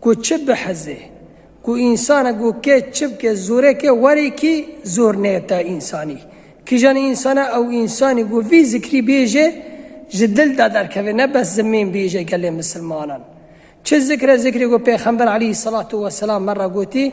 Ku çi biheze. Ku însanek ku ke çi bike zore ke were kî zor neyeta însanî. Kijan însana ew însanî ku vî zikrî bêje ji dil de derkeve ne bes zimên bêje gelê misilmanan. Çi zikre zikrê ku pêxember eleyhî selatu weselam me re gotî,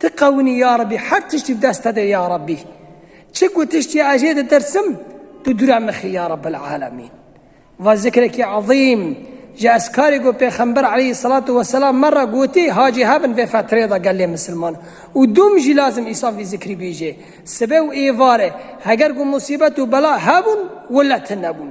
Ti qewinî ya Rebî her tiştî di dest te de ya Rebî. Çi ku tiştî ez jê ditirsim tu dûre mixî ya Rebbil Alemîn. Va zikrekî ezîm ji ezkarê ku Pêxember Eleyhîsselatu Weselam me re gotî hacî hebin vê fetreyê de gelê misilman û dûm jî lazim îsaf vî zikrî bîjê. Sibe û êvarê heger ku musîbet û bela hebûn wile tune bûn.